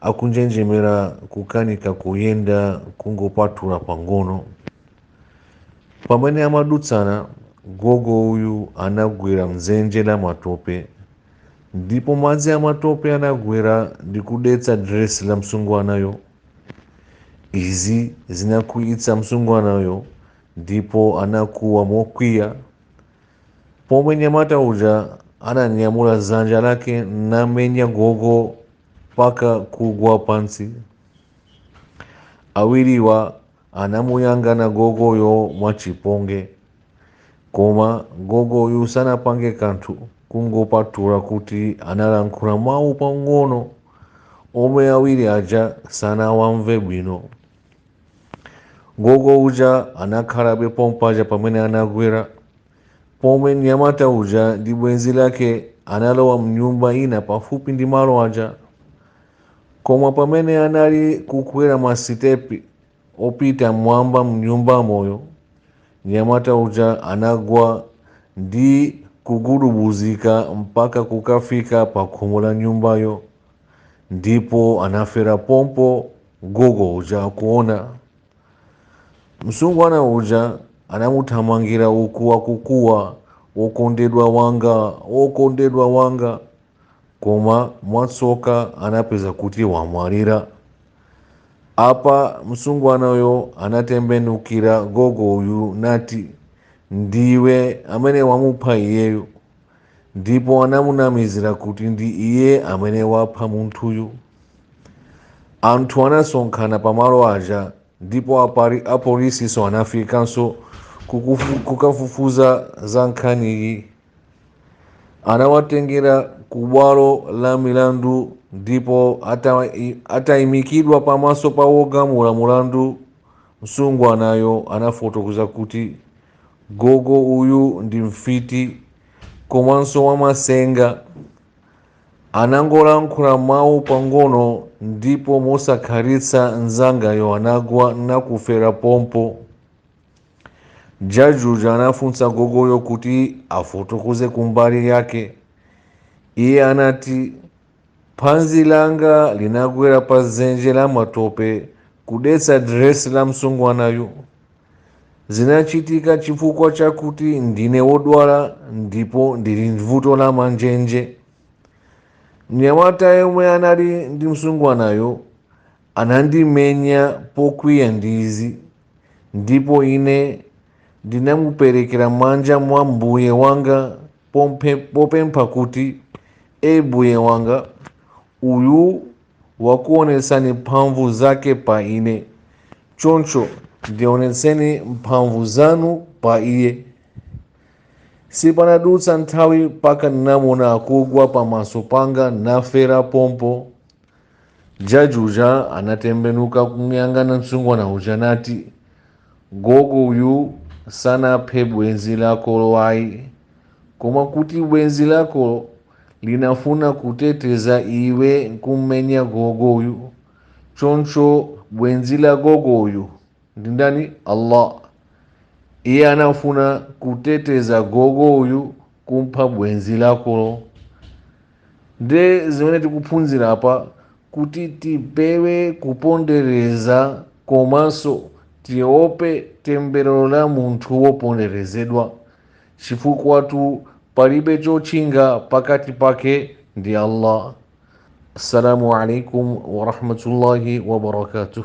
akunjenjemera kukanika kuyenda kungopatula pang'ono pamene amadutsana gogo uyu anagwera mdzenje la matope ndipo madzi amatope anagwera ndi kudetsa diresi la msungwanayo izi zinakwiyitsa msungwanayo ndipo anakuwa mokwiya pomwe mnyamata uja ananyamula dzanja lake namenya gogo mpaka kugwa pansi awiriwa anamuyang'ana gogoyo mwachipongwe koma gogoyu sanapange kanthu kungopatula kuti analankhula mawu pang'ono omwe awiri aja sanawamve bwino Gogo uja anakhalabe pompaja pamene anagwera, pomwe mnyamata uja ndi bwenzi lake analowa mnyumba ina pafupi ndi malo aja. Koma pamene anali kukwera masitepi opita mmwamba mnyumbamoyo, mnyamata uja anagwa ndi kugudubuzika mpaka kukafika pa khomo la nyumbayo. ndipo anafera pompo gogo uja akuona msungwana uja anamuthamangira uku akukuwa wokondedwa wanga wokondedwa wanga koma mwatsoka anapeza kuti wamwalira apa msungwanayo anatembenukira gogo uyu nati ndiwe amene wamupha iyeyo ndipo anamunamizira kuti ndi iye amene wapha munthuyu anthu anasonkhana pamalo aja ndipo apolisinso anafikanso kukafufuza za nkhaniyi anawatengera ku bwalo la milandu ndipo atayimikidwa pamaso pa wogamula mulandu msungwanayo anafotokoza kuti gogo uyu ndi mfiti komanso wamasenga anangolankhula mawu pang'ono ndipo mosakhalitsa mnzangayo anagwa nakufera pompo jaji uja anafunsa gogoyo kuti afotokoze kumbali yake iye anati Phazi langa linagwera pa dzenje la matope kudetsa diresi la msungwanayu. Zinachitika chifukwa chakuti ndine wodwala ndipo ndili ndi vuto la manjenje. Mnyamata yemwe anali ndi msungwanayo anandimenya pokwiya ndi izi, ndipo ine ndinamuperekera m'manja mwa Mbuye wanga popempha kuti e mbuye wanga uyu wakuonetsani mphamvu zake pa ine choncho ndionetseni mphamvu zanu pa iye sipanadutsa nthawi mpaka ndinamuona akugwa pamaso panga nafera pompo Jaji uja anatembenuka kumuyangana msungwana uja nati, Gogo uyu sanaphe bwenzi lakolo ayi, koma kuti bwenzi lakolo linafuna kuteteza iwe nkummenya gogo uyu, choncho bwenzi la gogo uyu ndi ndani? Allah. Iye anafuna kuteteza gogo uyu kumpha bwenzi lakolo. Nde zimene tikuphunzira apa kuti tipewe kupondereza komanso tiope temberero la munthu woponderezedwa chifukwatu palibe chotchinga pakati pake ndi Allah. Assalamu alaikum warahmatullahi wabarakatuh.